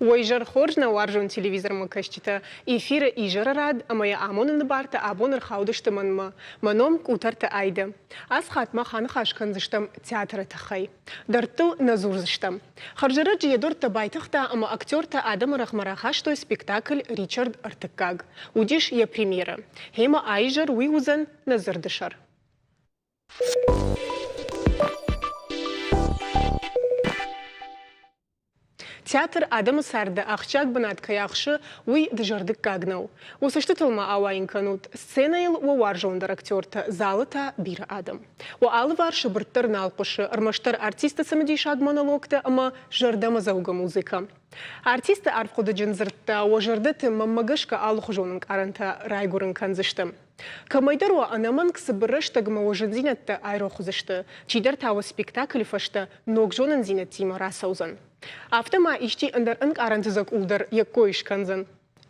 Уой зӕр хорз нӕ уарзон телевизормӕ кӕсджытӕ! Эфиры изӕры рад ӕмӕ йӕ амоныны бартӕ абон ӕрхаудысты мӕнмӕ. Мӕ ном Къутӕрты Айдӕ. Ацы хатт мах аныхас кӕндзыстӕм театры тыххӕй. Дӕрдтыл нӕ дзурдзыстӕм. Хӕрзӕрӕджы йӕ дуртӕ байтыгъта ӕмӕ актертӕ адӕмы рӕгъмӕ рахастой спектакль Ричард Ӕртыккаг. Уыдис йӕ премьерӕ. Гьемӕ аизӕр уый уыдзӕн нӕ дзырды сӕр. Театр адӕмы царды ахсджиаг бынат кӕй ахсы, уый дызӕрдыггаг нӕу. Уы цӕстытыл ма ауайын кӕнут, сценӕйыл уӕ уарзондӕр актертӕ, залы та бирӕ адӕм. Уӕ алыварсы бырд дӕр нал хъуысы ӕрмӕстдӕр артисты цымыдисаг монологтӕ ӕмӕ зӕрдӕмӕдзӕугӕ музыкӕ. Артисты арфхъуыдыджын дзырдтӕ уӕ зӕрдӕты мӕнмӕ гӕсгӕ алыхуызон ӕнкъарӕнтӕ райгуырын кӕндзысты. Кӕмӕйдӕр уӕ ӕнӕмӕнг цыбыр рӕстӕгмӕ уӕ зындзинӕдтӕ айрох уыдзысты, чидӕр та уӕ спектаклы фӕстӕ ног зонындзинӕдтимӕ рацӕудзӕн. Афтӕ ма исчи ӕндӕр ӕнкъарӕнты дзӕкъул дӕр йӕ кой скӕндзӕн.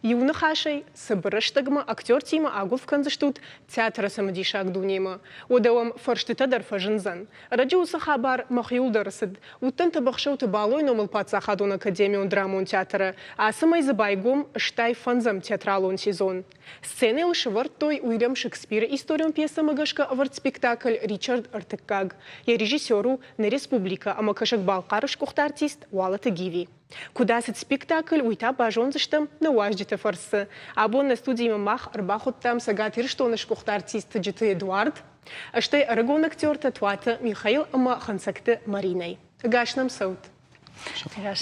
Иу ныхасӕй, цыбыр рӕстӕгмӕ актертимӕ агуыв кӕндзыстут театры цымыдисаг дунемӕ. Уӕдӕ уӕм фӕрстытӕ дӕр фӕзындзӕн. Ӕрӕджы уыцы хабар мӕхиуыл дӕр цыд. Уыдтӕн Тыбыхсӕуты Балойы номыл паддзахадон академион драмон театры. Ацы мӕй дзы байгом стай фӕндзӕм театралон сезон. Сценӕйыл сӕвӕрдтой уырӕм Шекспиры историон пьесӕмӕ гӕсгӕ ӕвӕрд спектакль Ричард Ӕртыккаг. Йӕ режиссер у нӕ республикӕ ӕмӕ Кӕсӕг-Балхъары сгуыхт артист Уалыты Гиви. Куыд ацыд спектакль, уый та базондзыстӕм нӕ уазджыты фӕрцы. Абон нӕ студимӕ мах ӕрбахуыдтам Цӕгат Ирыстоны сгуыхт артист Тыджыты Эдуард, стӕй ӕрыгон актертӕ Туаты Михаил ӕмӕ Хӕнцӕгты Маринӕ. Ӕгас нӕм цӕут!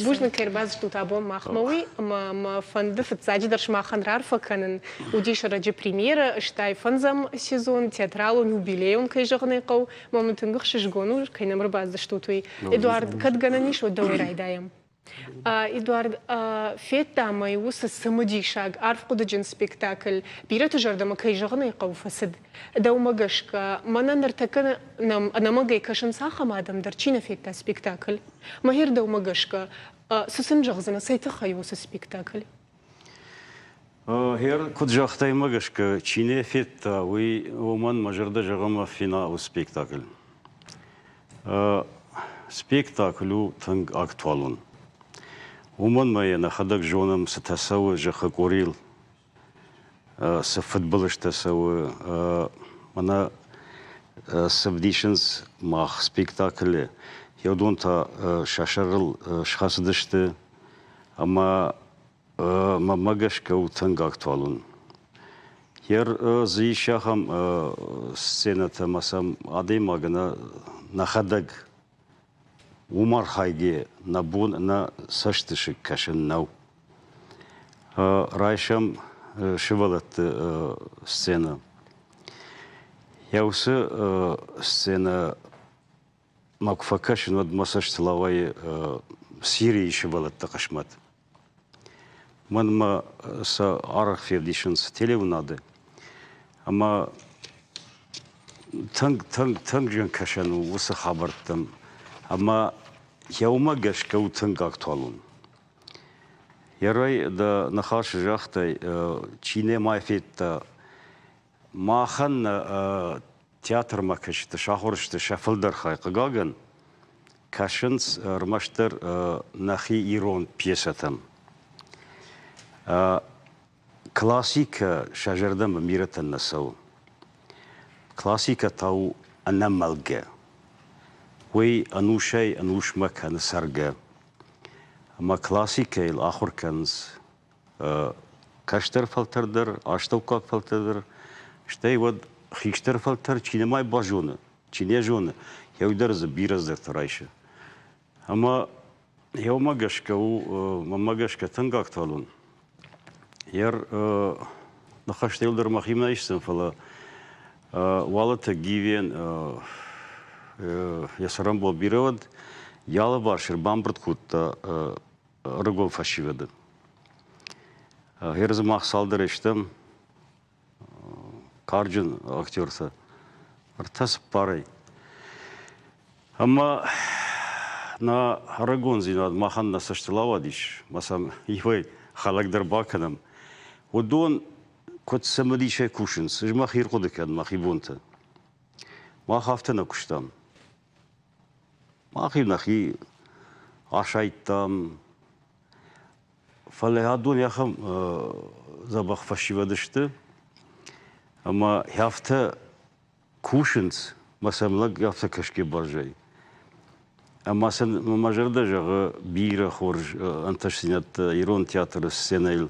Бузныг кӕй ӕрбацыдтут абон махмӕ, уый ӕмӕ мӕ фӕнды фыццаджыдӕр сымахӕн раарфӕ кӕнын. Уыдис ӕрӕджы премьерӕ, стӕй фӕндзӕм сезон, театралон юбилейон кӕй зӕгъын ӕй хъӕуы, Мамы тынг ӕхсызгон у, кӕй нӕм ӕрбаддзыстут, уый. Эдуард, кӕд гӕнӕн ис, уӕд дӕуӕй райдайӕм. Эдуард, федтам ӕй уыцы цымыдисаг, арфхъуыдыджын спектакль. Бирӕты зӕрдӕмӕ, кӕй зӕгъын ӕй хъӕуы, фӕцыд. Дӕумӕ гӕсгӕ, мӕнӕ ныртӕккӕ нӕм ӕнӕмӕнгӕй кӕсынц ахӕм адӕм дӕр, чи нӕ федта спектакль? Мӕхир, дӕумӕ гӕсгӕ, цы сын зӕгъдзынӕ, цӕй тыххӕй у уыцы спектакль? Гъер куд загътаймӕ гӕсгӕ, чи не федта, уый уомӕн мӕ зӕрдӕ зӕгъӕм финалы спектакль. Спектакль у тынг актуалон. Уымӕн мӕ йӕ нӕхӕдӕг зонӕм, цытӕ цӕуы зӕххы къорийыл, цы фыдбылызтӕ цӕуы. Мӕнӕ цы вдисынц мах спектаклы, йӕ уыдон та сӕ сӕрыл схӕцыдысты Ӕма мӕмӕ гӕсгӕ у тынг актуалон. Йер дзы ис ахӕм сценӕтӕ ӕмӕ сӕм адӕймаг ӕнӕ нӕхӕдӕг уым архайгӕ нӕ бон, нӕ цӕстысыг кӕсӕн нӕу. Райсӕм сывӕлӕтты сценӕ. Йӕ уыцы сценӕ мӕ куы фӕкӕсын, уӕд мӕ цӕстыл ауайы Сирийы сывӕллӕтты хъысмӕт. Мӕнмӕ сӕ арӕх февдисынц телеуынады. Ӕмӕ тынг, тынг, тынг зын кӕсӕн у уыцы хабӕрттӕм. Ӕмӕ йӕ уымӕ гӕсгӕ у тынг актуалон. Йӕ рой дӕ ныхасы загътай, чи нӕма федта Махӕн нӕ театрмӕ кӕсджыты сахуыр сты сӕ фылдӕр хай. Хъыгагӕн, кӕсынц ӕрмӕстдӕр нӕхи ирон пьесӕтӕм. Классикӕ сӕ зӕрдӕмӕ бирӕтӕн нӕ цӕуы. Классикӕ та у ӕнӕмӕлгӕ. Уый ӕнусӕй ӕнусмӕ кӕны цӕргӕ. Ӕмӕ классикӕйыл ахуыр кӕнынц кӕстӕр фӕлтӕр дӕр, астӕуккаг фӕлтӕр дӕр, стӕй уӕд хистӕр фӕлтӕр чи нӕма базоны, чи не зоны, еу дӕр дзы бирӕ дзырд райсы. Ӕмӕ еумӕ гӕсгӕ у, мӕнмӕ гӕсгӕ тынг актуалон. Ер ныхӕстӕ дӕр мӕхимӕ исдзӕн, фӕлӕ Уалыты Гивен йӕ цӕрӕнбон бирӕ уыд, йӕ алыварс ӕрбамбырд кодта рыгон фӕсивӕды. Гъер дзы мах цалдӕр стӕм карджын актертӕ ӕртӕ цыппарӕй. Ӕмӕ нӕ рагондзинад махӕн нӕ цӕстыл ауадис, ма сӕм иуӕй хӕлӕг дӕр бакӕнӕм. Уыдон куыд цымыдисӕй кусынц, ӕз мӕ хи хъуыды кӕн, мӕхи бонты. Мах афтӕ нӕ куыстам. Махи нӕхи асайдтам. Фӕлӕ адон ахӕм дзӕбӕх фӕсивӕд сты, ӕмӕ хӕфтӕ кусынц мӕ сӕм лӕг афтӕ кӕсгӕ бӕрзӕй. Ӕмӕ сын мӕ зӕрдӕ зӕгъы бирӕ хорз ӕнтыстдзинӕдтӕ ирон театры сценӕйыл.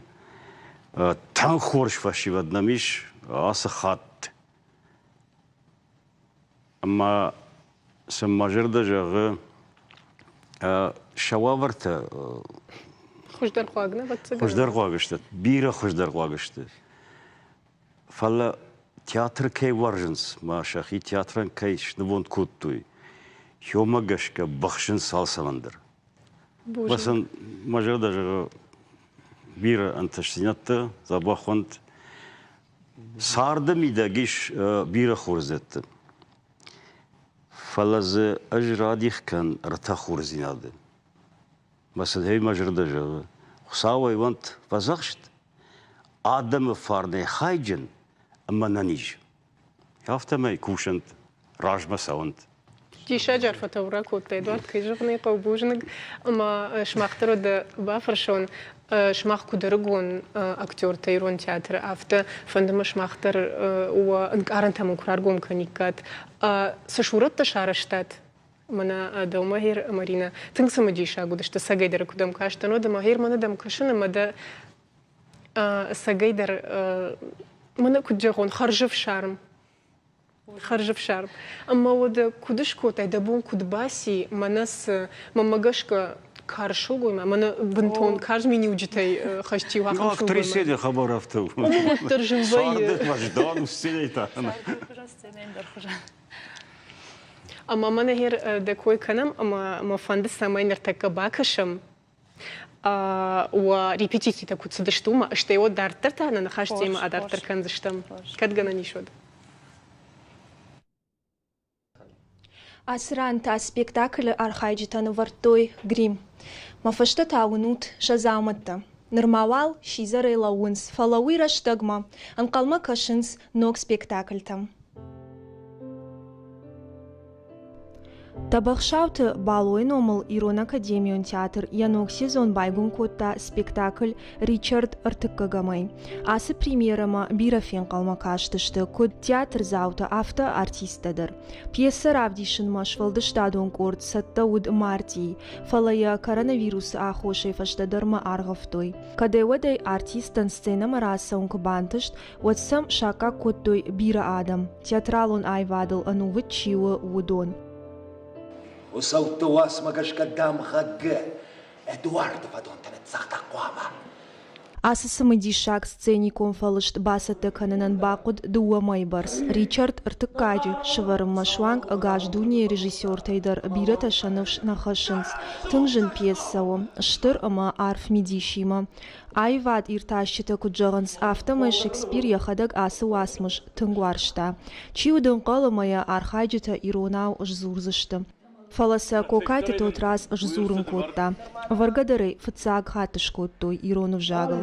Тынг хорз фӕсивӕд нӕм ис ацы хатт. Ӕмӕ сын мӕ зӕрдӕ зӕгъы, сӕ уавӕртӕ Хуыздӕрхъуаг нӕ, ӕвӕццӕгӕн? Хуыздӕрхъуаг сты. Бирӕ хуыздӕрхъуаг сты. Фӕлӕ театр кӕй уарзынц мӕ сӕхи театрӕн кӕй снывонд кодтой, хьомӕ гӕсгӕ быхсынц алцӕмӕн дӕр. Боже. сын мӕ зӕрдӕ зӕгъы бирӕ ӕнтыстдзинӕдтӕ, дзӕбӕх уӕнт. Царды мидӕг ис бирӕ хорздзӕдтӕ, фӕлӕ дзы ӕз радих кӕн ӕртӕ хорздзинады. Мӕсыдӕй мӕ зӕрдӕ зӕгъы, Хуыцау ӕй уӕнт фӕдзӕхст, адӕмы фарнӕй хайджын ӕмӕ нӕ низ. Афтӕмӕй кусӕнт, размӕ цӕуӕнт. Диссаджы арфӕ таурӕгъ кодтай, Эдуард. Кӕй зӕгъын ӕй хъӕуы бузныг ӕмӕ сымах дӕр уӕдӕ бафӕрсон, сымах куыд ӕрыгон актертӕ ирон театры, афтӕ фӕнды мӕ сымах дӕр уӕ ӕнкъарӕнтӕ мын куы раргом кӕниккат. Цы сурӕттӕ сарӕзтат? Мӕнӕ дӕумӕ, Маринӕ, тынг цымыдисаг уыдысты, сагӕйдӕр куыдӕм кастӕн, уӕд ӕмӕ гъер мӕнӕ дӕм кӕсын ӕмӕ дӕ сагӕйдӕр, мӕнӕ куыд зӕгъон, хӕрзӕфсарм Хӕрзӕфсарм. Ӕмӕ уӕдӕ куыд скодтай, дӕ бон куыд баци, мӕнӕ цы, мӕнмӕ гӕсгӕ, карз сылгоймаг, мӕнӕ бынтон карз миниуджытӕй хӕст чи у, ахӕм сылгоймаг. Актрисе хабар афтӕ у. Ууыл дӕр зын вӕййы. Дон у сценӕйы та. Сценӕйы хузӕн, сценӕйӕн дӕр хузӕн. Ӕмӕ мӕнӕ гъер дӕ кой кӕнӕм, ӕмӕ мӕ фӕнды, цӕмӕй ныртӕккӕ бакӕсӕм уӕ репетицитӕ куыд цыдысты уымӕ, стӕй уӕд дарддӕр та нӕ ныхӕстимӕ адарддӕр кӕндзыстӕм. Кӕд гӕнӕн ис уӕд? Ацы ран та спектаклы архайджытӕ нывӕрдтой грим. Мӕ фыстытӕ уынут сӕ дзаумӕттӕ. Нырма уал сидзӕрӕй лӕууынц, фӕлӕ уый рӕстӕгмӕ ӕнхъӕлмӕ кӕсынц ног спектакльтӕм. тӕбӕхсауты балойы номыл ирон академион театр йӕ ног сезон байгом кодта спектакль ричард ӕртыккӕгӕмӕй ацы премьерӕмӕ бирӕ фенхъӕлмӕ кастысты куыд театрдзаутӕ афтӕ артисттӕ дӕр пьесӕ равдисынмӕ сфӕлдыстадон къорд цӕттӕ уыд мартийы фӕлӕ йӕ коронавирусы аххосӕй фӕстӕдӕрмӕ аргъӕвтой кӕдӕй уӕдӕй артисттӕн сценӕмӕ рацӕуын куы бантыст уӕд сӕм саккаг кодтой бирӕ адӕм, театралон аивадыл ӕнувыд чи у, уыдон. Уыцӕутты уацмӕ гӕсгӕ дамгъӕгы Эдуарды фӕдонтӕ ныццагъта хъуамӕ. Ацы цымыдисаг сценикон фӕлыст бацӕттӕ кӕнынӕн бахъуыд дыууӕ мӕйы бӕрц. Ричард ӕртыккаджы сӕвӕрынмӕ суанг ӕгас дунейы режиссертӕй дӕр бирӕтӕ сӕ ныфс нӕ хӕссынц. Тынг зын пьесӕ у, стыр ӕмӕ арф мидисимӕ. Аивад иртасджытӕ куыд зӕгъынц, афтӕмӕй Шекспир йӕхӕдӕг ацы уацмыс тынг уарзта. Чи уыд ӕнхъӕл ӕмӕ йӕ архайджытӕ иронау сдзурдзысты. Фӕлӕ сӕ Кокайты Тотраз сдзурын кодта. Ӕвӕргӕдӕр ӕй фыццаг хатт скодтой ирон ӕвзагыл.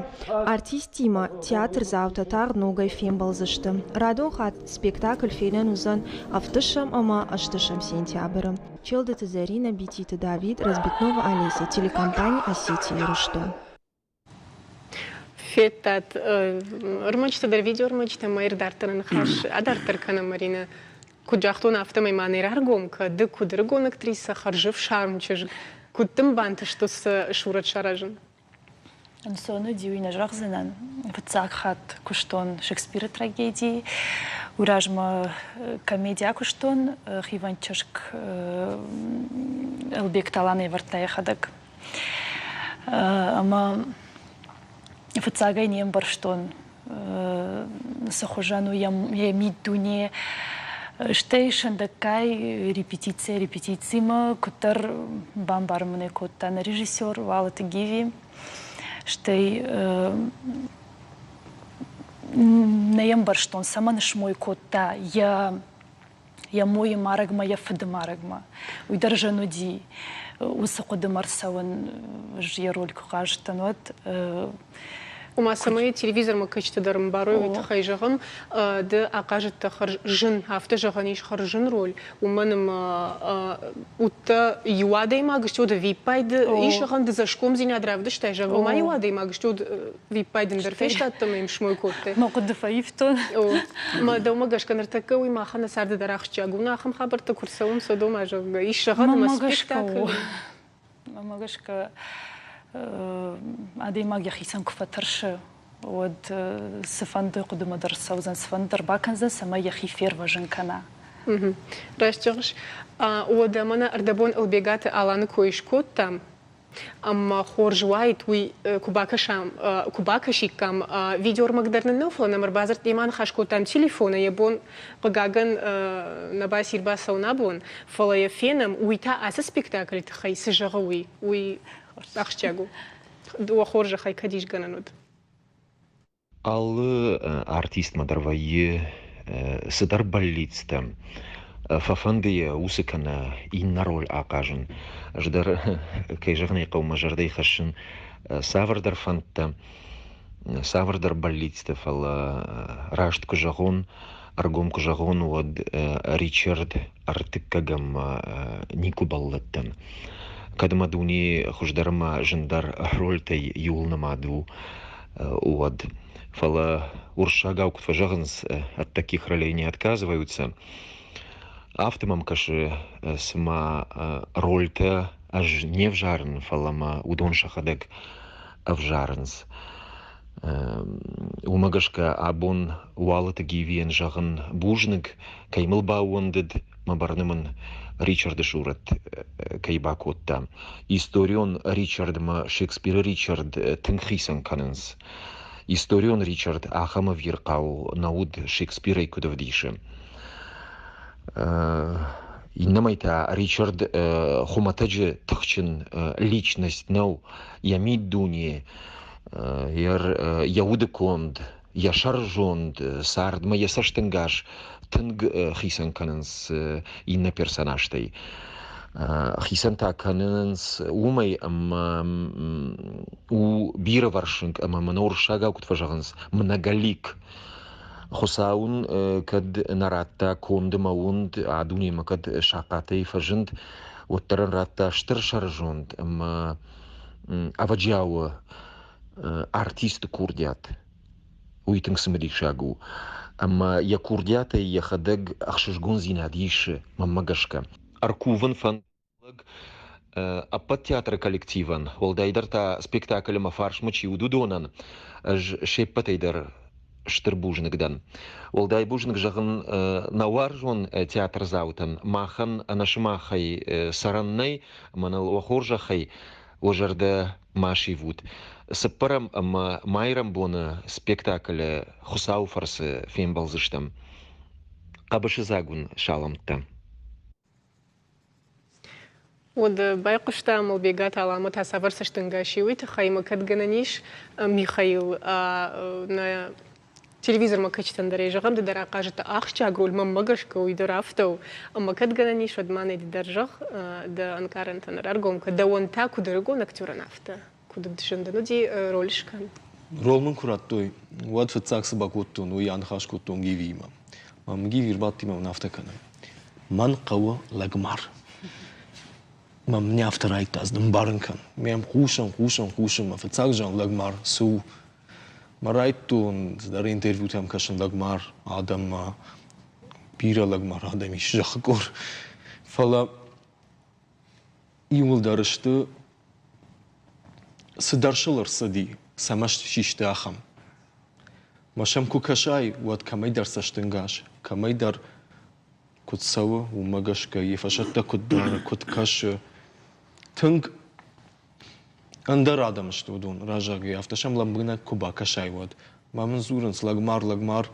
Артисттимӕ театрдзаутӕ тагъд ногӕй фембӕлдзысты. Радон хатт спектакль фенӕн уыдзӕн ӕвддӕсӕм ӕмӕ ӕзтысӕм сентябры. челдыты зӕринӕ бититы давид разбитнова олеся телекомпани осетия рустам федтат ӕрмӕджытӕ дӕр видеоӕрмӕджытӕ ма ӕрдарддӕр ныхас адарддӕр кӕнӕм маринӕ куыд загътон афтӕмӕй ма нӕ раргом кӕды куыд ӕрыгон актриса хӕрзӕфсарм чызг куыд дын бантыстӕ сӕ сурӕт саразын Ӕнцоны диуи нӕ зӕгъдзынӕн. Фыццаг хатт куыстон Шекспиры трагедийы. Уый размӕ комедия куыстон хивӕнд чызг Ӕлбег Талан ӕвӕрдта йӕхӕдӕг. Ӕмӕ фыццагӕй не мбӕрстон цы хуызӕн у йӕ миддуне. Стӕй сӕндӕггай репетици репетицимӕ куыддӕр бамбарын мын кодта нӕ режиссер Валыты Гиви. Стӕй нӕ ӕмбӕрстон, цӕмӕн смой кодта йӕ йӕ мойы марӕгмӕ, йӕ фыды марӕгмӕ. Уый дӕр зын уыди. Уыцы хъуыдымӕ рцӕуын ӕз йӕ роль куы хъазтӕн, уӕд. Ома, цӕмӕй телевизормӕ кӕджыты дӕр ӕмбарой, уый тыххӕй зӕгъын, ды ахъазыдтӕ хӕрзын, афтӕ зӕгъӕн ис хӕрзын роль, уымӕн ӕмӕ удтӕ иу адӕймаг стут, ӕвиппайды ис зӕгъӕн, ды цӕсгомдзинад равдыстай, зӕгъ, ома иу адӕймаг стут, Виппайд ӕмбӕр фестадтӕ ӕм смой кодтай? Нӕ хъуыды фӕивтон. Мӕ дӕумӕ гӕсгӕ ныртӕккӕ уый махӕн нӕ царды дӕр ахсджиаг у, нӕ ахӕм хабӕрттӕ куы рцӕуынц Содомӕ, зӕгъгӕ, ис зӕгъӕн ӕмӕ спектакль. Мӕ гӕсгӕ адӕймаг йӕхицӕн куы фӕтӕрсы, уӕд цыфӕнды хъуыдымӕ дӕр цӕудзӕн, цыфӕнды дӕр бакӕндзӕн, цӕмӕй йӕхи фервӕзын кӕна. Раст зӕгъыс. Уӕдӕ мӕнӕ ӕрдӕбон Ӕлбегаты Аланы кой скодтам. ӕмӕ хорз уаид уый куы бакӕсам, куы бакӕсиккам видеормаг дӕр нын нӕу, фӕлӕ нӕм ӕрбадзырд демӕ аныхас кодтам телефонӕй, йӕ бон, хъыгагӕн, нӕ баци рбацӕуын абон, фӕлӕ йӕ фенӕм, уый та ацы спектаклы тыххӕй цы зӕгъы, уый, уый ахсджиаг у. Уӕ хорзӕхӕй, кӕд исгӕнӕн уыд. Алы артистмӕ дӕр вӕййы цыдӕр бӕллицтӕ. Фӕфӕнды йӕ уыцы кӕнӕ иннӕ роль ахъазын. Ӕз дӕр, кӕй зӕгъын ӕй хъӕуы, мӕ зӕрдӕйы хӕссын цавӕрдӕр фӕндтӕ, цавӕрдӕр бӕллицтӕ, фӕлӕ раст куы зӕгъон, ӕргом куы зӕгъон, уӕд Ричард ӕртыккӕгӕм никуы бӕллыдтӕн. Кӕд мӕ дуне хуыздӕр ӕмӕ зындӕр рольтӕй иуыл нымад у, вот фӕлӕ уырыссагау куыд фӕзӕгъынц ӕд таких ролей не отказываются афтӕ мӕм кӕсы цыма рольтӕ ӕз не взарын фӕлӕ мӕ уыдон сӕхӕдӕг ӕвзарынц уымӕ гӕсгӕ абон уалыты гивийӕн зӕгъын бузныг кӕй мыл баууӕндыд ма бӕрны мын ричарды сурӕт кӕй бакодта. Историон Ричардмӕ Шекспиры Ричард тынг хицӕн кӕнынц. Историон Ричард ахӕм ӕвирхъау нӕ уыд Шекспирӕй куыд ӕвдисы. Иннӕмӕй та Ричард хуымӕтӕджы тыхджын личность нӕу, йӕ миддуне, йӕ удыконд йӕ сӕрызонд цардмӕ йӕ цӕстӕнгас тынг хицӕн кӕнынц иннӕ персонажтӕй. Хицӕн та кӕнынц уымӕй, ӕмӕ у бирӕвӕрсыг ӕмӕ мын уырыссагау куыд фӕзӕгъынц, многолик. Хуыцау ын кӕд нӕ радта конд ӕмӕ уынд, а дунемӕ кӕд сахъатӕй фӕзынд, уӕддӕр ын радта стыр сӕрызонд ӕмӕ ӕвӕджиауы артисты курдиат уый тынг цымыдисаг у ӕмӕ йӕ курдиатӕй йӕхӕдӕг ӕхсызгондзинад исы мӕнмӕ гӕсгӕ ӕркувын фӕнд ӕппӕт театры коллективӕн уӕлдайдӕр та спектакль ӕмӕ фарсмӕ чи уыд уыдонӕн ӕз се ппӕтӕй дӕр стыр бузныг дӕн уӕлдай бузныг зӕгъын нӕ уарзон театрдзаутӕн махӕн ӕнӕ сымахӕй цӕрӕн нӕй мӕныл уӕ хорзӕхӕй уӕ зӕрдӕ ма сивут. Цыппӕрӕм ӕмӕ майрӕмбоны спектаклы Хуыцауы фӕрцы фембӕлдзыстӕм. Хъӕбысыдзаг уын саламттӕ! Уӕд байхъуыста Мылбегаты Алӕмӕт ацавӕрсыстын гӕс. Уый тыххӕй мӕ кӕд гӕнӕн ис Михаил нӕ Телевизормӕ кӕсджытӕн дӕр ӕй зӕгъӕм, ды дӕр ахъазыдтӕ ахсджиаг роль, мӕнмӕ гӕсгӕ уый дӕр афтӕ у. Ӕмӕ кӕд гӕнӕн ис, уӕд ма нӕ ды дӕр зӕгъ, дӕ ӕнкъарӕнтӕн ӕрӕргом кӕн. Дӕуӕн та куыд ӕрыгон актерӕн, афтӕ куыд зындӕн уыди роль скӕн. Рол мын куы радтой, уӕд фыццаг цы бакодтон, уый аныхас кодтон Гивиимӕ. Мӕм Гиви ӕрбадти мӕ мын афтӕ кӕны. Мӕн хъӕуы лӕгмар. Мӕм не афтӕ райдта, ӕз нымбарын кӕн. Ме хъусын, хъусын, хъусын, мӕ фыццаг зиан лӕгмар цы у? Мӕ райдтон цыдӕр интервьютӕм кӕсын лӕгмар адӕммӕ, бирӕ лӕгмар адӕм ис зӕххы къуыр. Фӕлӕ иуылдӕр сты, цыдӕр сыл ӕрцыди, сӕ маст систы ахӕм. Мӕ сӕм куы кӕсай, уӕд кӕмӕйдӕр цӕстынгас, кӕмӕйдӕр куыд цӕуы, уымӕ гӕсгӕ йе фӕсӕттӕ куыд дары, куыд кӕсы. Тынг ӕндӕр адӕм сты уыдон разагӕй, афтӕ сӕм лӕмбынӕг куы бакӕсай, уӕд. Ма мын дзурынц, лӕгмар-лӕгмар,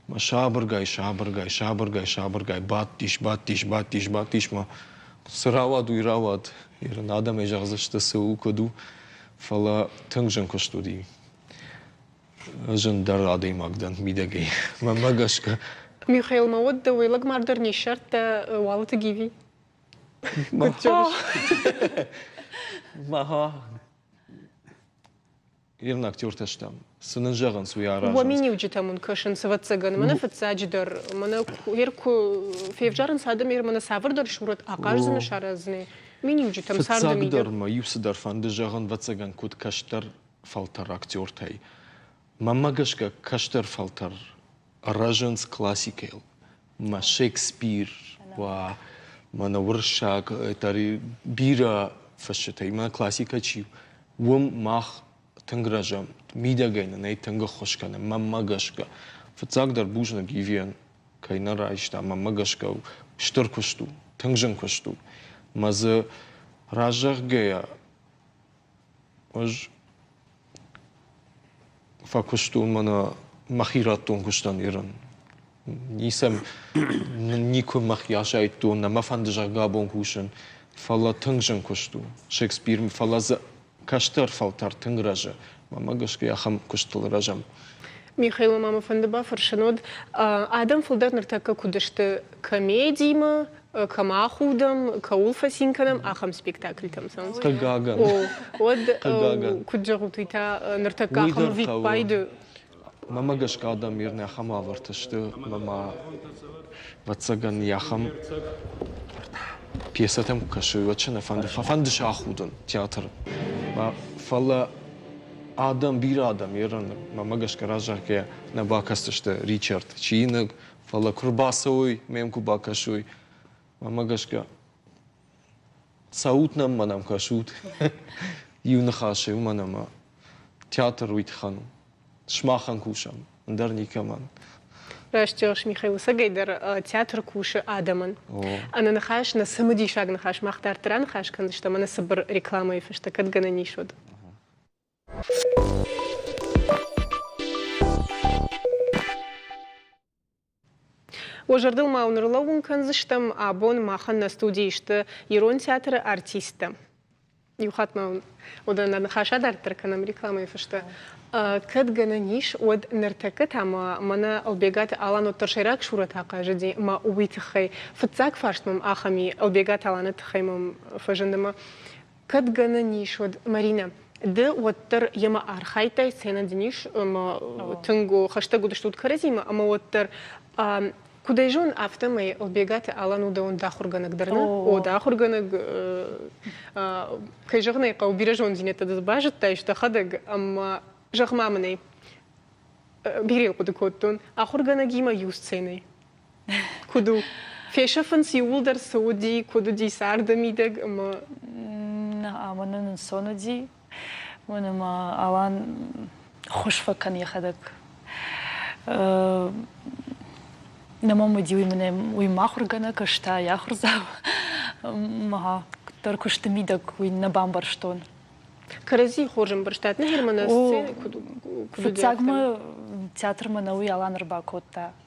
мӕ сабыргай-сабыргай, сабыргай-сабыргай бадтис, бадтис, бадтис, бадтис, мӕ цы рауад, уый рауад. Ирон адӕмӕй зӕгъдзысты, цы у, куыд у. Фӕлӕ тынг зын куыст уыди. зындӕр адӕймаг дӕн мидӕгӕй. Мӕнмӕ гӕсгӕ. Михаил, ма уӕд дӕуӕй лӕгмар дӕр не ссардта Уалыты Гиви? Мӕхӕ ирын актертӕ стӕм. Цы нын зӕгъынц, уый аразынц. Уӕ миниуджытӕм уын кӕсынц, ӕвӕццӕгӕн, мӕнӕ фыццаджыдӕр, мӕнӕ ир куы февзарынц адӕм, ир мӕнӕ цавӕрдӕр сурӕт ахъаздзӕн сараздзӕни миниуджытӕм царды мидӕг. Фыццагдӕр мӕ иу цыдӕр фӕнды зӕгъын, ӕвӕццӕгӕн, куыд кӕстӕр фӕлтӕр актертӕй. Мӕмӕ гӕсгӕ кӕстӕр фӕлтӕр рӕзынц классикӕйыл. Мӕ Шекспир, уа мӕнӕ уырыссаг дӕр бирӕ фысджытӕй мӕ классикӕ чи у, уым мах тынг рӕзӕм. Мидӕгӕй нӕ нӕй тынг ӕххуыс кӕнӕм, мӕмӕ гӕсгӕ. Фыццагдӕр бузныг Ивийӕн кӕй нӕ райста. Мӕмӕ гӕсгӕ стыр куыст у, тынг зын куыст у. Мӕ дзы разӕгъгӕйӕ Ӕз фӕкуыстон мӕнӕ мӕхи радтон куыстӕн Ирӕн. Ницӕм никуы мӕхи асайдтон, нӕ мӕ фӕнды зӕгъгӕ абон кусын, фӕлӕ тынг зын куыст у Шекспир, фӕлӕ дзы кӕстӕр фӕлтӕр тынг рӕзы. Мамӕ гӕсгӕ ахӕм куыстыл рӕзӕм. Михаилы ма мӕ фӕнды бафӕрсын уыд, адӕм фылдӕр ныртӕккӕ куыд сты комедимӕ, кӕм ахудӕм, кӕуыл фӕцин кӕнӕм, ахӕм спектакльтӕм цӕуынц. Хъыгагӕн. О, уӕд куыд зӕгъут, уый та ныртӕккӕ ахӕм ӕвиппайды Мӕмӕ гӕсгӕ адӕм мирн ахӕм уавӕрты сты, ӕмӕ ма, ӕвӕццӕгӕн, йӕ ахӕм пьесӕтӕм куы кӕсы, уӕд сӕ нӕ фӕнды, фӕфӕнды сӕ ахудын театр. Фӕлӕ адӕм, бирӕ адӕм Иры, мӕмӕ гӕсгӕ раззагӕ нӕ бакӕсдзысты Ричард, чиныг, фӕлӕ куы рбацӕуой, ме мкуы бакӕсой, мӕмӕ гӕсгӕ цӕут нӕм, мӕнӕм кӕсут. Иу ныхас се уымӕн ӕмӕ театр уый тыххӕн у. Сымахӕн кусӕм, ӕндӕр никӕмӕн. Растӕгс Михаил ӕцӕгӕй дӕр театр кусы адӕмӕн. Ӕнӕныхас, нӕ цымыдисаг ныхас, мах дарддӕр аныхас кӕндзыстӕм ӕнӕ цыбыр рекламӕйы фӕстӕ, кӕд гӕнӕн ис, уӕд. Уӕ зӕрдыл ма нырлӕууын кӕндзыстӕм, абон махӕн нӕ студийы сты ирон театры артисттӕ. Иу хатт ма уыдон нӕ ныхас адарддӕр кӕнӕм рекламӕйы фӕстӕ. Кӕд гӕнӕн ис, уӕд ныртӕккӕ та мӕнӕ Ӕлбегаты Алан уӕддӕр сӕйраг сурӕт ахъазыди мӕ уый тыххӕй. Фыццаг фарст мӕм ахӕм и, Ӕлбегат Аланы тыххӕй мӕм фӕзынд ӕмӕ Кӕд гӕнӕн ис, уӕд, Маринӕ, ды уӕддӕр йемӕ архайдтай сценӕ дын ис тынг хӕстӕг уыдыстут кӕрӕдзимӕ, ӕмӕ уӕддӕр Куыд ӕй зон, афтӕмӕй Ӕлбегаты Алан у дӕуӕн ахуыргӕнӕг дӕр нӕ? О, дӕ ахуыргӕнӕг, кӕй зӕгъын ӕй хъӕуы, бирӕ зонддзинӕдтӕ дыл базыдтаис дӕхӕдӕг, ӕмӕ, зӕгъ-ма мын ӕй, бирӕ хъуыды кодтон, ахуыргӕнӕгимӕ иу сценӕйы Куыд у? Фесӕфынц иууылдӕр цы уыди, куыд уыди царды мидӕг ӕмӕ ӕмӕ нын ӕнцон уыди. Уын ӕмӕ Алан хуыз фӕкӕн йӕхӕдӕг. Нӕ мӕм уыди уый мынӕ уый махуыргӕнӕг, ӕз та йӕ ахуырдзау. Ма дӕр куысты мидӕг уый нӕ бамбӕрстон. Кӕрӕдзийы хорз ӕмбӕрстат, нӕ Герман сценӕ куыд уыди? Фыццагмӕ театрмӕ нӕ уый Алан ӕрбакодта.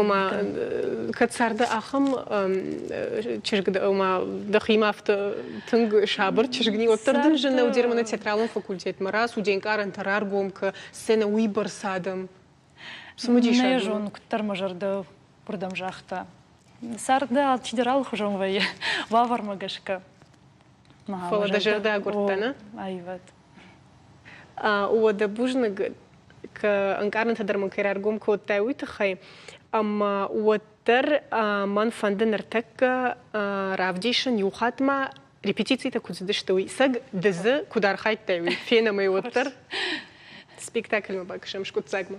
ома кӕд царды ахӕм чызг ома дӕхимӕ афтӕ тынг сабыр чызг ни уӕддӕр дын зыны уыдермӕ театралон факультетмӕ раз студенкъарӕнтӕ раргом кӕ сценӕ уыйбӕрц адӕм цымыдисаг зон куыддӕр мӕ зӕрдӕ уырдӕм загъта царды алчидӕр алыхуызон вӕййы уавӕрмӕ гӕсгӕ фӕлӕ дӕ зӕрдӕ агуырдта нӕ аивад Уӕдӕ бузныг, ka ӕнкъарӕнтӕ дӕр мын кӕй раргом кодтай, уый тыххӕй. Ӕмӕ уӕддӕр мӕн фӕнды ныртӕккӕ равдисын иу хаттмӕ репетицитӕ куыд цыдысты, уый. Сӕг дызы куыд архайдтай, уый фенӕм ӕй уӕддӕр. Спектакльмӕ бакӕсӕм скъуыддзагмӕ.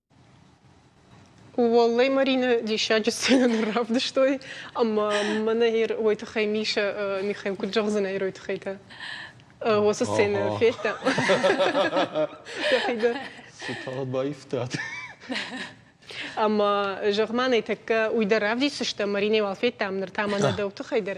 Уӕллӕй Марины диссаджы сценӕ равдыстой, ӕмӕ мӕнӕ ир уой тыххӕй Мишӕ Михаил куыд зӕгъдзынӕ ирой тыххӕйты? Уыцы сценӕ федта? Дӕхи дӕр? Цы тагъд баивтат? Ӕмӕ, зӕгъ-ма нӕ тӕккӕ уый дӕр равдисдзыстӕм, Маринӕ уал федтам ныр та мӕнӕ дӕу тыххӕй дӕр.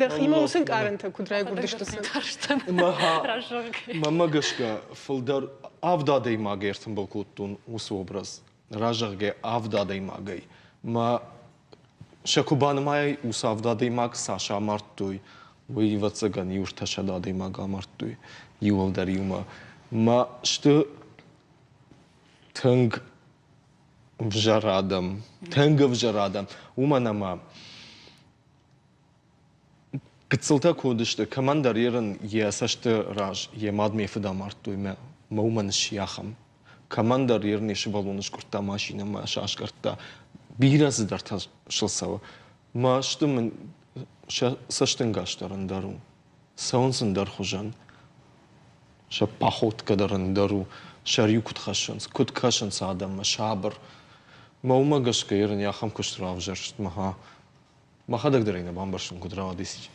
Дӕхимӕ уыцы ӕнкъарӕнтӕ куыд райгуырдысты Мӕнмӕ гӕсгӕ фылдӕр авд адӕймагы ӕртымбыл кодтон уыцы образ, разӕгъгӕ авд адӕймагӕй. Мӕ сӕ куы банымайай, уыцы авд адӕймаг цас амардтой, уый ӕвӕццӕгӕн иу-ӕртӕсӕд адӕймаг амардтой иуылдӕр иумӕ. Мӕ сты тынг ӕвзӕр адӕм, тынг ӕвзӕр адӕм, уымӕн ӕмӕ Гыццылтӕ куы уыдысты, кӕмӕндӕр Ирын йӕ цӕсты раз йӕ мадмӕ фыд амардтой мӕ мӕ уымӕн сси ахӕм. Кӕмӕндӕр Ир ме сывӕллоны скъуырдта машинӕмӕ, сасгӕрдта. Бирӕ цыдӕртӕ сыл цӕуы. Масты мын сӕ цӕстӕнгас дӕр ӕндӕр у. Цӕуынц ӕндӕр хуызӕн. Сӕ походкӕ дӕр ӕндӕр у. Сӕр-иу куыд хӕссынц, куыд кӕсынц адӕммӕ сабыр. Мӕ уымӕ гӕсгӕ Ир ын йӕ ахӕм куыст равзӕрст, мӕ хӕ. Мӕхӕдӕг дӕр ӕй нӕ бамбӕрстон, куыд рауадис.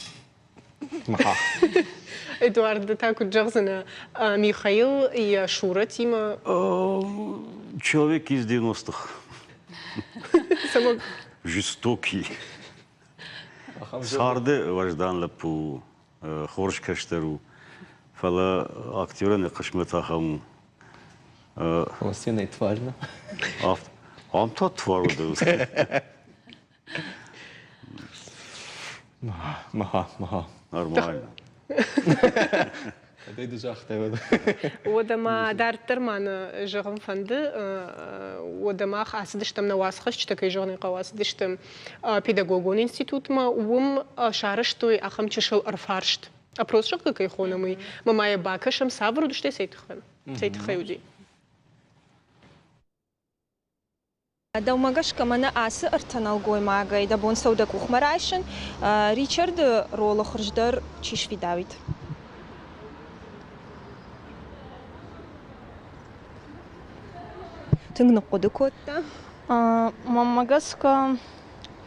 Мӕхӕ. Эдуард, ды та куыд зӕгъдзынӕ Михаил йӕ Шуратимӕ? Человек из девяностых. Жестокий. Царды уӕздан лӕппу у, хорз кӕстӕр у, фӕлӕ актерӕн йӕ хъысмӕт ахӕм у. Фӕлӕ сценӕйы тварь нӕ? Ам та твар уыд. Нормально. Кӕдӕй ды загътай уӕд? Уӕдӕ ма дарддӕр ма нӕ зӕгъын фӕнды, уӕдӕ мах ацыдыстӕм нӕ уацхӕсджытӕ, кӕй зӕгъын хъӕуы, ацыдысты педагогон институтмӕ, уым сарӕзтой ахӕм чысыл ӕрфарст. Опрос зӕгъгӕ кӕй хонӕм, уый. Мы ма йӕ бакӕсӕм, цавӕр уыдыстӕй цӕй тыххӕй? Цӕй тыххӕй уыди? Дӕумӕ гӕсгӕ мӕнӕ ацы ӕртӕ нӕлгоймагӕй дӕ бон цӕуы дӕ къухмӕ райсын? Ричарды ролы хуыздӕр чи сфидауид? Тынг ныхъхъуыды кодта. Мӕнмӕ гӕсгӕ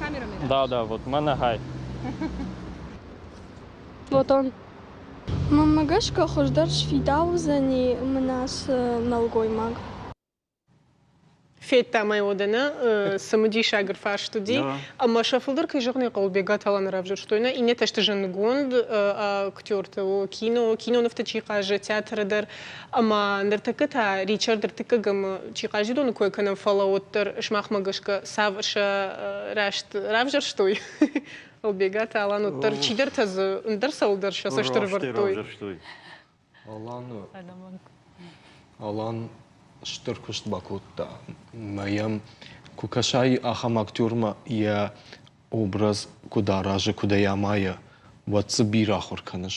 Камерамен. Да, да, вот мӕнӕ хай. Платон. Ну, мӕ гӕсгӕ хуыздӕр сфидаудзӕни мынас нӕлгоймаг. Федта мӕ уодӕнӕ цымыдисагыр фарст уыди, ӕмӕ сӕ фылдӕр кӕй зӕгъын хъӕуы, Тала равзӕрстой нӕ иннӕтӕ сты зындгонд актерты, кино, кинонывты чи хъазы, театры дӕр. Ӕмӕ ныртӕккӕ та Ричард ӕртыккӕгӕмы чи Хъазидоны кой кӕнӕм, фӕлӕ уӕддӕр сымахмӕ гӕсгӕ сӕ рӕзт равзӕрстой? Ӕлбегат Алан уӕддӕр чидӕртӕ дзы ӕндӕр цӕуылдӕр сӕ цӕст ӕрӕвӕрдтой. Аланы Алан стыр куыст бакодта мӕ йӕм куы кӕсай ахӕм актермӕ йӕ образ куыд аразы, куыд ӕй амайы, уӕд дзы бирӕ ахуыр кӕныс.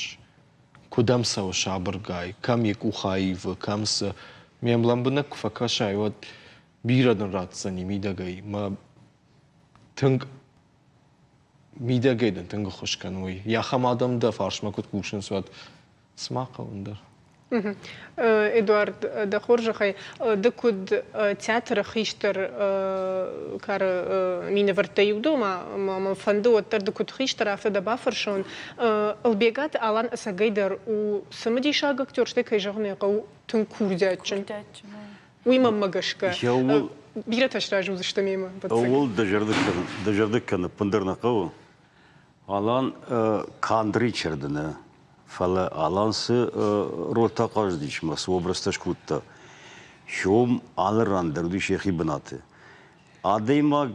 Куыдӕм цӕуы сабыргай, кӕм йӕ къух аивы, кӕм цы. Ме млӕмбынӕг куы фӕкӕсай, уӕд бирӕ нын ратдзӕни мидӕгӕй. Мӕ тынг мидӕгӕй дын тынг ӕххуыс кӕной. Йӕ ахӕм адӕм дӕ фарсмӕ куыд кусынц, уӕд цыма хъӕуы ӕндӕр. Эдуард, дӕ хорзӕхӕй, ды куыд театры хистӕр кары минӕвӕрттӕй иу дӕ, ӕмӕ мӕ фӕнды уӕддӕр ды куыд хистӕр, афтӕ дӕ бафӕрсон. Ӕлбегаты Алан ӕцӕгӕй дӕр у цымыдисаг актер, стӕй, кӕй зӕгъын ӕй хъӕуы, тынг курдиатджын. Уый мӕнмӕ гӕсгӕ. Бирӕтӕ сразы уыдзысты мемӕ. Ууыл дӕ зӕрдыг кӕнын ӕппындӕр нӕ хъӕуы. Алан кандри чердыны, фӕлӕ Алан цы рольтӕ хъазыдис ӕмӕ цы образтӕ скодта, сём алы ран дӕр уыдис йӕхи бынаты. Адӕймаг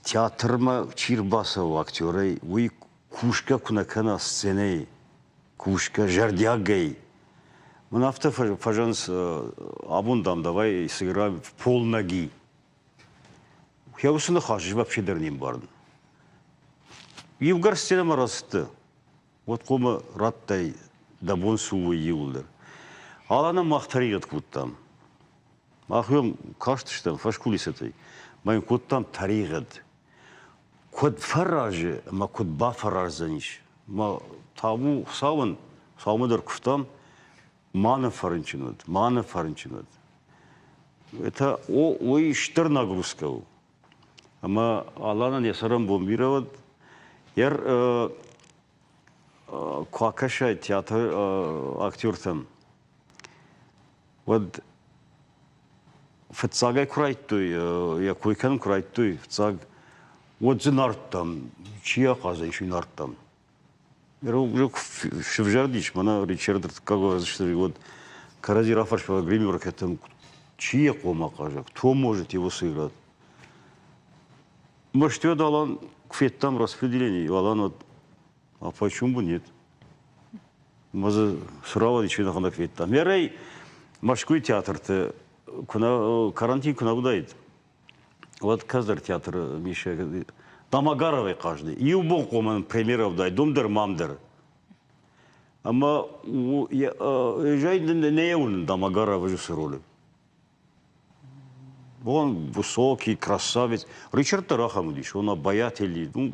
театрмӕ чи рбацӕуы актерӕй, уый кусгӕ куы нӕ кӕна сценӕйы, кусгӕ зӕрдиагӕй, мын афтӕ фӕзынынц, абон, дам, давай сыграем в полноги. Йӕ уыцы ныхас ӕз вообще дӕр не мбарын. Иугӕр сценӕмӕ рацыдты, уӕд хъумӕ радтай дӕ бон цы у, уый иууылдӕр. Ала нӕм мах тӕригъӕд кодтам. Мах уӕм кастыстӕм фӕскулисӕтӕй, ӕмӕ йын кодтам тӕригъӕд. Куыд фӕразы ӕмӕ куыд бафӕраздзӕнис? Ӕмӕ табу Хуыцауӕн, Хуыцаумӕ дӕр куывтам, ма нӕ фӕрынчын уыд, ма нӕ фӕрынчын уыд. Это уый стыр нагрузка у. Ӕмӕ Аланӕн йӕ цӕрӕнбон бирӕ уыд. Йер куы акӕсай театры актертӕм, уӕд фыццагӕй куы райдтой, йӕ кой кӕнын куы райдтой, фыццаг, уӕд дзы нардтам, чи ахъазӕй, чи нардтам. Ирок сывзӕрдис мӕнӕ Ричард Ртыккагазвишвили уӕд кӕрӕдзи рафӕрсгӕ гримеркӕтӕн чи йӕ хъом ахъаззаг, Томожити Уосыград. Мӕсты уӕд алан куы федтам распределение, алан уӕд а почему бы нет? Мы за Суровой ничего наханак федтам. Ярай Москвы театрты карантин куна удаид. уӕд кӕддӕр театры мисӕг Тамагаровӕй хъазыди. Иубон хъоман премьерӕ уыдаид, дом дӕр, мам дӕр. Ӕмӕ Ежай не уынын Тамагаров режиссер ролы. Он высокий, красавец. Ричард дӕр ахӕм уыдис, он обаятельный.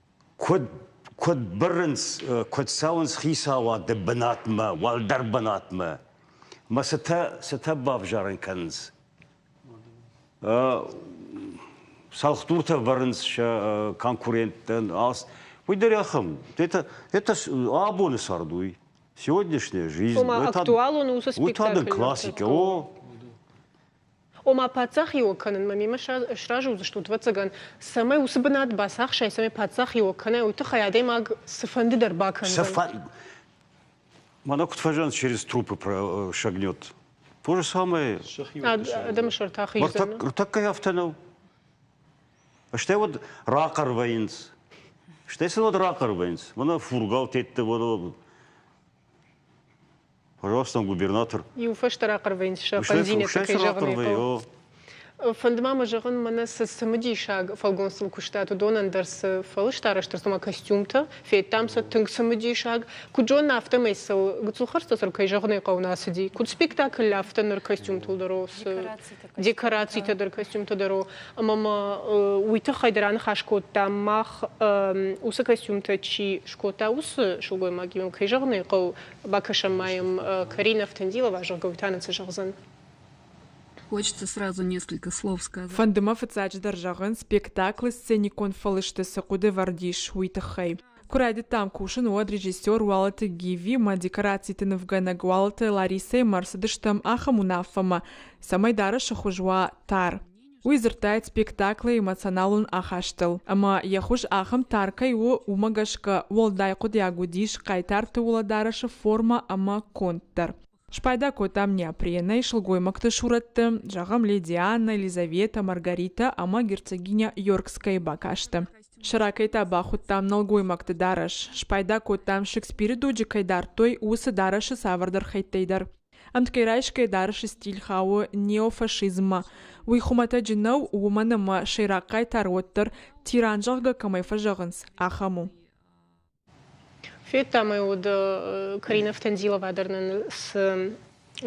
Куыд, куыд бырынц, куыд цӕуынц хицауады бынатмӕ, уӕлдӕр бынатмӕ? Мӕ цытӕ, цытӕ бавзарын кӕнынц? Цӕлхдуртӕ вӕрынц сӕ конкуренттӕн. Уый дӕр ахӕм. Это, это абоны цардуй, сегодняшняя жизнь. Ома, актуалон у уыцы спектакль. Уый та дын классикӕ. О, Ома, паддзахиуӕг кӕнынмӕ мемӕ сразы уыдзыстут, ӕвӕццӕгӕн, цӕмӕй уыцы бынат бацахсай, цӕмӕй паддзахиуӕг кӕнай, уый тыххӕй адӕймаг цыфӕнды дӕр бакӕндзӕн. Она куыд фӕзӕнт через трупы прошагнет. То же самое. Адӕмы сӕрты ахиздзӕн. Ртӕккӕй афтӕ нӕу. Стӕй уӕд рахъӕр вӕййынц. Стӕй сын уӕд рахъӕр вӕййынц. Мӕнӕ фургал тетты, мӕнӕ Пожалуйста, губернатор. Иу фӕстӕ рахъӕрвӕйнц сӕ фӕндзинӕдты кӕй зӕгъын Фӕнд ма мӕ зӕгъын, мӕнӕ цы цымыдисаг фӕлгонцыл куыстат, уыдонӕн дӕр цы фӕлыстарӕзтыр цыма костюмтӕ, федтам сӕ тынг цымыдисаг. Куыд зонын, афтӕмӕй сыл Гуцулхӕрдзцъасыр кӕй зӕгъынӕй хъӕуы нӕ цыди. Куыд спектакль, афтӕ ныр костюмтыл дӕр у, декорацитӕ дӕр, костюмтӕ дӕр у. Ӕмӕ ма уый тыххӕй дӕр аныхас кодтам, мах уыцы костюмтӕ чи скодта, уыцы сылгоймагимӕ кӕй зӕгъын ӕй хъӕуы, Бакӕсӕм ма йӕм Карина Автандилова, зӕгъгӕ, уый та нын цы зӕгъдзӕн? Хочется сразу несколько слов сказать. Фӕнды мӕ фыццаджыдӕр зӕгъын, спектаклы сценикон фӕлысты цы хъуыды вӕрдис, уый тыххӕй. Куы райдыдтам кусын, уӕд режиссер Уалыты Гиви мӕ декорациты нывгӕнӕг Уалыты Ларисӕимӕ ӕрцыдыстӕм ахӕм уынаффӕмӕ, цӕмӕй дарӕсы хуыз уа тар. Уый дзырдтаид спектаклы эмоционалон ахастыл, ӕмӕ йӕ хуыз ахӕм тар кӕй у, уымӕ гӕсгӕ уӕлдай хъуыдиаг уыдис Хъайтарты уӕлӕдарӕсы формӕ ӕмӕ конд дӕр. Спайда кодтам неопренӕй сылгоймӕгты сурӕтты, зӕгъӕм, леди Анна, Елизавета, Маргаритӕ ӕмӕ герцогиня Йоркскӕйы бакасты. Сӕ ракӕй та бахуыдтам нӕлгоймӕгты дарӕс. Спайда кодтам, Шекспиры доджы кӕй дардтой, уыцы дарӕсы цавӕрдӕр хӕйттӕй дӕр. Ӕмткӕйрайсгӕ дарӕсы стиль хауы неофашизммӕ. Уый хуымӕтӕджы нӕу, уымӕн ӕмӕ сӕйраг хъайтар уӕддӕр, тиран зӕгъгӕ кӕмӕй фӕзӕгъынц, ахӕм у. Федтам ӕй уыд Карина Втандилова дӕр нын цы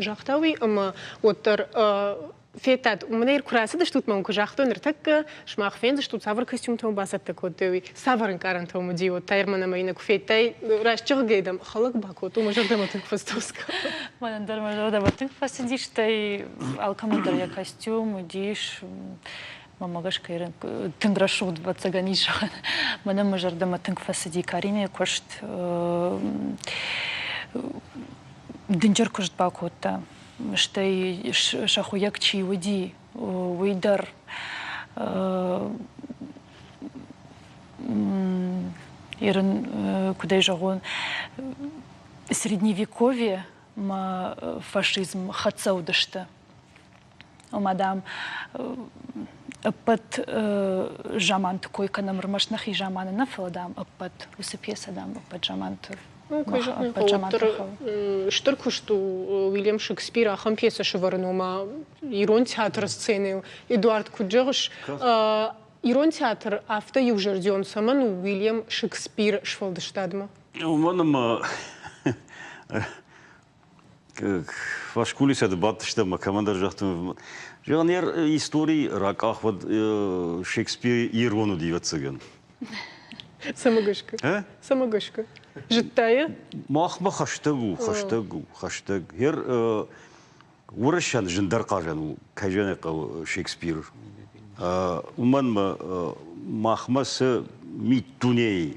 загъта уый, ӕмӕ уӕддӕр Федтат, у мынӕр куы рацыдыстут мӕм, куы загътой ныртӕккӕ, сымах фендзыстут, цавӕр костюмтӕ мыл бацӕттӕ кодтой, уый цавӕр ӕнкъарӕнтӕм уыди уӕддӕр мӕн ӕмӕ йын куы федтай, раст зӕгъгӕ дӕм хӕлӕг бакодт, уымӕ зӕрдӕмӕ тынг фӕцӕуцгӕ. Мӕнӕн дӕр мӕ зӕрдӕмӕ тынг фӕцыди, стӕй алкӕмӕн дӕр йӕ костюм уыдис мӕмӕ гӕсгӕ тынг рӕсугъд ӕвӕццӕгӕн ис. Мӕнӕн мӕ зӕрдӕмӕ тынг фӕцыди Каринӕйы куыст. Дынджыр куыст бакодта. стӕй сӕ хуыйӕг чи уыди, уый дӕр Ирын, куыдӕй зӕгъон, средневековье мӕ фашизм хӕццӕ уыдысты. Ома, дам, ӕппӕт заманты кой кӕнӕм ӕрмӕст нӕхи заманы нӕ, фӕлӕ, дам, ӕппӕт уыцы пьесӕ, дам, ӕппӕт заманты Куы зӕгъын хъӕуы, стыр куыст у Уильям Шекспир ахӕм пьесӕ сывӕрын, ома ирон театры сценӕйыл. Эдуард, куыд зӕгъыс, ирон театр афтӕ иузӕрдион цӕмӕн у Уильям Шекспиры сфӕлдыстадмӕ? Уымӕн ӕмӕ Фӕскулисӕды бадтыстӕм ӕмӕ кӕмӕндӕр загътон, зӕгъын, йӕ истори ракъах уӕд Шекспир ирон уыди, ӕвӕццӕгӕн. Самогышка. Самогышка. Зыдта йӕ? Махмӕ хӕстӕг у, хӕстӕг у, хӕстӕг. Гер уырыссӕн зындӕр хъазӕн у, кӕй зӕгъын хъӕуы Шекспир. Уымӕн мӕ махмӕ цы миддунейы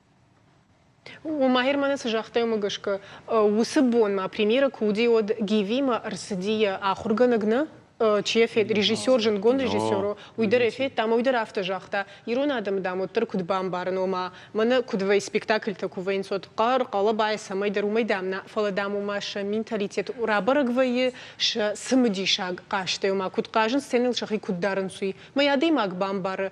Махер мӕнӕ цы загъта уымӕ гӕсгӕ, уыцы бонмӕ премьерӕ куы уыди, уӕд Гивимӕ ӕрцыди йӕ ахуыргӕнӕг нӕ чи йӕ фед, режиссер, зындгонд режиссер у, уый дӕр ӕй федта ӕмӕ уый дӕр афтӕ загъта, ирон адӕмы, дам, уӕддӕр куыд бамбарын, ома, мӕнӕ куыд вӕййы спектакльтӕ куы вӕййынц, уӕд хъӕр, хъӕлӕбайӕ, цӕмӕйдӕр уымӕй, дам, нӕ, фӕлӕ, дам, ома сӕ менталитет рабӕрӕг вӕййы, сӕ цымыдисаг хъазтӕй, ома, куыд хъазын, сценӕйыл сӕхи куыд дарынц, уый. Мӕй адӕймаг бамбары,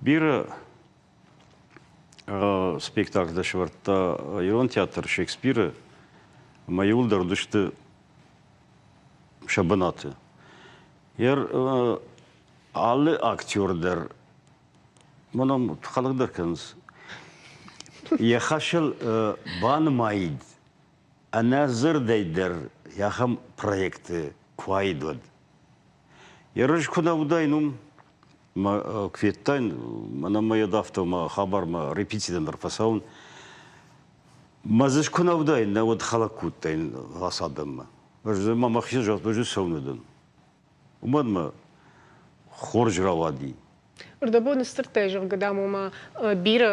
Биры спектакль сӕвӕрдта ирон театр Шекспиры ӕмӕ иуылдӕр уыдысты сӕ бынаты. Йӕ алы актер дӕр мӕнӕ хӕлӕг дӕр кӕнынц. Йӕ хӕсыл банымайд ӕнӕ дзырдӕй дӕр ахӕм проекты куаид уӕд. Йӕ рыз куы нӕ уыдаин уым, мӕ куы федтаин, мӕнӕ мӕ йӕ давта мӕ хабармӕ репетитӕн дӕр фӕцӕуын. Мӕ дзы куы нӕ уыдаин, нӕ уӕд хӕлӕг куы уыдтаин ацы адӕммӕ. Ӕз дзы ма мӕхи загътон, ӕз цӕуын уыдӕн. Уымӕн мӕ хорз рауади. Рдӕбоны сдзырдтӕй, зӕгъгӕ, дам, ома бирӕ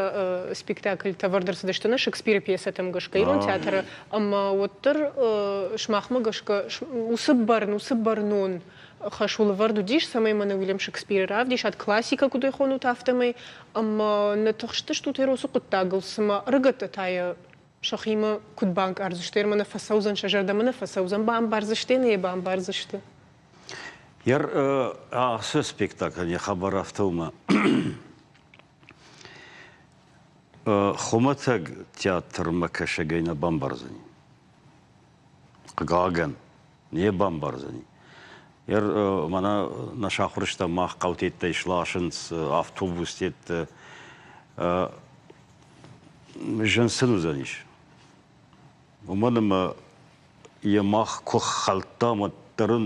спектакльтӕ ӕвӕрд ӕрцыдысты нӕ Шекспиры пьесӕтӕм гӕсгӕ ирон театры, ӕмӕ уӕддӕр, сымахмӕ гӕсгӕ, уыцы бӕрн, уыцы бӕрнон хӕс уылӕвӕрд уыдис, цӕмӕй мӕнӕ Уильям Шекспиры равдисат классикӕ куыд хонут, афтӕмӕй, ӕмӕ нӕ тыхстыстут Эросы хъуыддагыл, цымӕ ӕрыгӕттӕ та йӕ сӕхимӕ куыд банкъардзысты, ӕмӕ нӕ фӕцӕудзӕн сӕ зӕрдӕмӕ нӕ фӕцӕуыдзӕн, бамбардзысты нӕ бамбардзысты. Ер ацы спектакль не хабар афтӕ у, хуымӕтӕг театрмӕ кӕсӕгӕй нӕ бамбардзӕни. Хъыгагӕн, не бамбардзӕни. Мӕнӕ нӕ сахуырстӕ мах хъӕутӕттӕй сласынц автобустӕттӕ. Зын сын уыдзӕнис. Уымӕн ӕмӕ йӕ мах куы хӕлдтам, уӕддӕр ын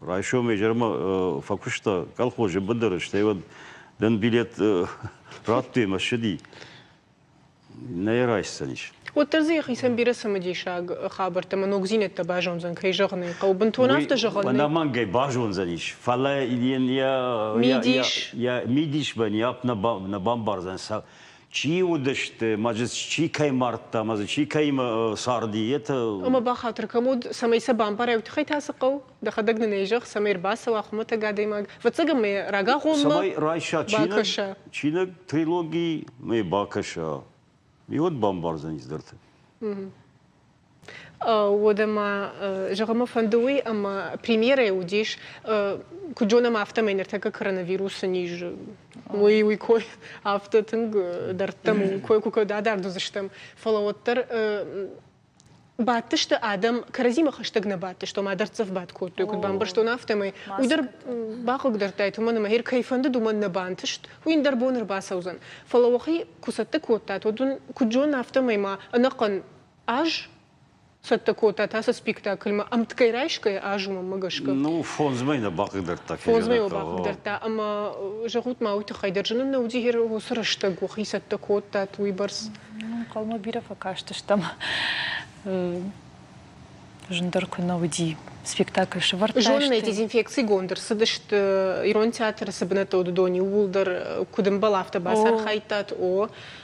Райсом изӕрмӕ э, фӕкуыста колхозы быдыры, стӕй уӕд дын билет э, радтой мӕ ссыди. Нӕ райсдзӕнис. Уӕддӕр дзы йӕхицӕн бирӕ цымыдисаг хабӕрттӕ ӕмӕ ногдзинӕдтӕ базондзӕн, кӕй зӕгъын ӕй хъӕуы, бынтон афтӕ зӕгъӕн Ӕнӕмӕнгӕй базондзӕнис, фӕлӕ йын йӕ мидис бӕн йӕп нӕ бамбардзӕн, Чи уыдысты, ма чи кӕй мардта, ма чи кӕимӕ царди, это... Ӕмӕ бахатыр кӕм уыд, цӕмӕй сӕ бамбара, уый тыххӕй та цы хъӕуы? Дӕхӕдӕг нын ӕй зӕгъ, цӕмӕй ӕрбацӕуа хуымӕтӕг адӕймаг, ӕвӕццӕгӕн мӕ рагагъоммӕ цӕмӕй райса чиныг, чиныг трилоги мӕ бакӕса, уый уӕд бамбардзӕнис дӕрты. Уӕдӕ ма зӕгъын мӕ фӕнды уый, ӕмӕ премьерӕ уыдис, куыд зонӕм, афтӕмӕй ныртӕккӕ коронавирусы низ уый уый кой афтӕ тынг дӕрдтӕм у, кой куы куыд адард уыдзыстӕм. Фӕлӕ уӕддӕр бадтысты адӕм, кӕрӕдзимӕ хӕстӕг нӕ бадтысты, ома дӕрддзӕф бад кодтой, куыд бамбӕрстон, афтӕмӕй. Уый дӕр бахъыгдардтаид, уымӕн ӕмӕ, гъер кӕй фӕндыд, уымӕн нӕ бантыст, уый ндӕр бон ӕрбацӕудзӕн. Фӕлӕ уӕхи куы цӕттӕ кодтат, уӕд уын куыд зонын, афтӕмӕй ма ӕнӕхъӕн Ӕз цӕттӕ кодта та сӕ спектакльмӕ ӕмткӕй райсгӕ азумӕмӕ гӕсгӕ. Ну, фондзмӕй нӕ бахъыгдӕрдта. Фондзмӕ йыл бахъыгдӕрдта, ӕмӕ зӕгъут ма уый тыххӕй дӕр, зын нӕ уыди уыцы рӕстӕг уӕхи цӕттӕ кодтат уыйбӕрц. Ӕнхъӕлмӕ бирӕ фӕкастыстӕм. Зындӕр куы нӕ уыди спектакль, сывӕрдта. Зонын ӕй, дезинфекцигонд ӕрцыдысты ирон театры цы бынӕттӕ уыд, уыдон иууылдӕр куыд ӕмбал, афтӕ бацархайдтат. О,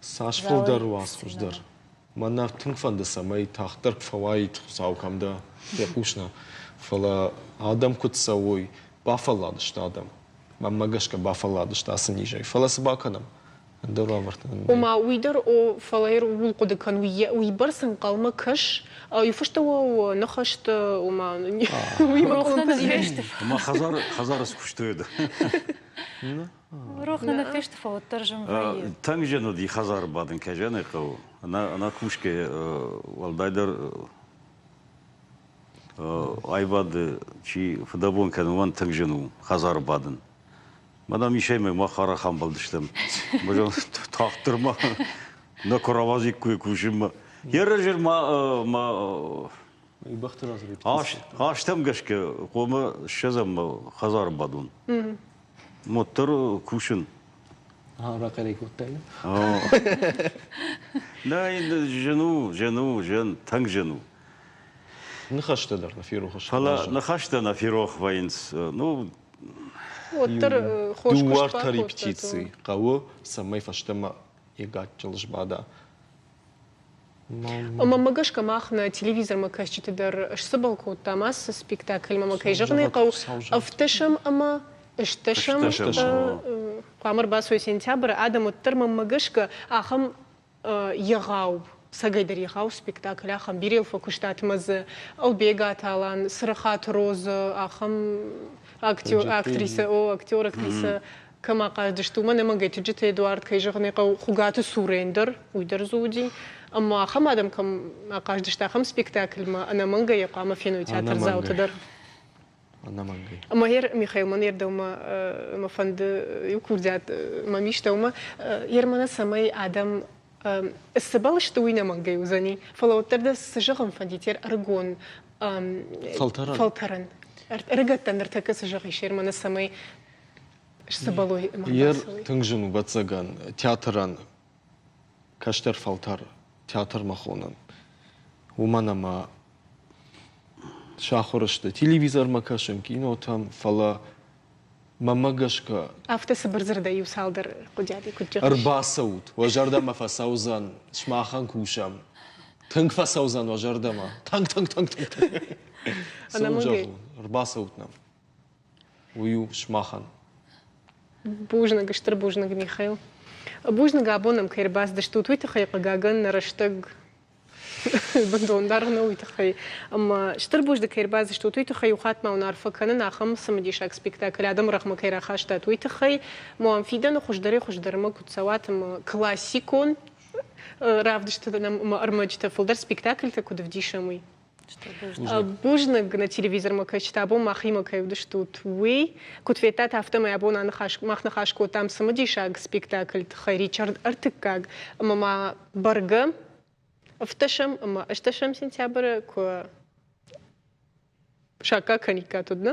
Цас фылдӕр уац хуыздӕр. Мӕнӕ тынг фӕнды, цӕмӕй тагъддӕр куы фӕуаид Хуыцау кӕм дӕ, фехъусна. Фӕлӕ адӕм куыд цӕуой, бафӕлладысты адӕм. Мӕнмӕ гӕсгӕ бафӕлладысты ацы низӕй. Фӕлӕ цы бакӕнӕм? Ӕндӕр уавӕрты нын. Ома, уый дӕр о, фӕлӕ ууыл хъуыды кӕн, уыйбӕрц ӕнхъӕлмӕ кӕс, иуфысты уӕ ныхӕсты, ома, уый бакъуылымпыдзинӕдты. Ӕмӕ хӕдзары хӕдзары скуыстой. Рох нӕ фесты фӕуӕддӕр зын вӕййы. Тынг зын уыди хӕдзары бадын, кӕй зӕгъын хъӕуы. Ӕнӕ ӕнӕ кусгӕ уӕлдайдӕр аивады чи фыдӕбон кӕны, уымӕн тынг зын у хӕдзары бадын. Мадам исӕймӕ мах арӕх амбӕлдыстӕм. Тагъддӕр ма нӕ куы рауадзиккой кусынмӕ. Йӕ разӕр ма ма бӕхты разы астӕм гӕсгӕ хъуамӕ ссӕдзӕм хӕдзары бадон. Мотор кусын. Рахъӕрӕй кодтай? Нӕ, жен у, жен у, жен, тынг жен у. Ныхӕстӕ дӕр нӕ ферох сты. Фӕлӕ ныхӕстӕ нӕ ферох вӕййынц. Ну, уӕддӕр хос дыууӕртӕри птицы хъӕуы, цӕмӕй фӕстӕмӕ йӕ гаччыл сбада. Мамӕ гӕсгӕ мах нӕ телевизормӕ кӕсджыты дӕр сцыбыл кодтам, ацы спектакльмӕ мӕ кӕй зӕгъын хъӕуы, ӕвддӕсӕм ӕмӕ ыстӕсӕм. Хъуамӕ рбацой сентябры, адӕм уӕддӕр мамӕ гӕсгӕ ахӕм егъау, цӕгӕйдӕр егъау спектакль, ахӕм Бирел фӕкуыстатмӕ дзы, Ӕлбегаты Алан, Цырыхаты Розы, ахӕм актер, актрисӕ, о, актер, актрисӕ Кӕм ахъазыдысты, уымӕн ӕмӕ Гӕтыджыты Эдуард, кӕй зӕгъын ӕй хъӕуы, Хуыгаты цурӕн дӕр уый дӕр дзы уыди. Ӕмӕ ахӕм адӕм кӕм ахъазыдысты, ахӕм спектакльмӕ ӕнӕмӕнгӕй хъуамӕ феной театрдзауты дӕр. Ӕнӕмӕнгӕй. Ӕмӕ гъер, Михаил, мӕн ӕрдӕумӕ мӕ фӕнды иу курдиат мӕм истӕ уымӕ, гъер мӕнӕ цӕмӕй адӕм цыбӕл сты, уый нӕмӕнгӕй уыдзӕни. Фӕлӕ уӕддӕр дӕ цы зӕгъын фӕнди, тер ӕрыгон фӕлтӕрӕн. Фӕлтӕрӕн. Ӕрыгӕттӕн ныртӕккӕ цы зӕгъис, гъер мӕнӕ цӕмӕй Сыбылой Ер тынг зын у бӕцӕгӕн театрӕн кӕстӕр фӕлтӕр театрмӕ хонӕн. Уымӕн ӕмӕ сахуыр сты телевизормӕ кӕсын, кинотӕм, фӕлӕ мӕмӕ гӕсгӕ Афтӕ цыбыр дзырдӕй иу-цалдӕр хъуыдыйади куыд зӕгъыс? ӕрбацӕут, уӕ зӕрдӕмӕ фӕцӕудзӕн, сымахӕн кусӕм. Тынг фӕцӕудзӕн уӕ зӕрдӕмӕ. Тынг, тынг, тынг, тынг. Цы уын зӕгъон? Ӕнӕмӕнгӕй. Ӕрбацӕут нӕм. уый у сымахӕн. Бузныг, стыр бузныг, Михаил. Бузныг абон ӕм кӕй ӕрбацыдыстут, уый тыххӕй, хъыгагӕн, нӕ рӕстӕг бындон даргъ нӕу уый тыххӕй. Ӕмӕ стыр бузныг кӕй ӕрбацыдыстут, уый тыххӕй у хатт ма уын арфӕ кӕнын ахӕм цымыдисаг спектакль адӕмы рӕгъмӕ кӕй рахастат, уый тыххӕй. Моам фидӕны хуыздӕрӕй-хуыздӕрмӕ куыд цӕуат ӕмӕ классикон равдысты ӕмӕ ӕрмӕджытӕ фылдӕр спектакльтӕ куыд ӕвдисӕм, уый. Бузныг нӕ телевизормӕ кӕсджытӕ абон махимӕ кӕй уыдыстут, уый. Куыд федтат, афтӕмӕй абон аныхас, мах ныхас кодтам цымыдисаг спектакль тыххӕй Ричард Ӕртыккаг ӕмӕ ма бӕргӕ ӕфтӕсӕм ӕмӕ ӕстӕсӕм сентябры куы саккаг кӕниккат, уыд, нӕ?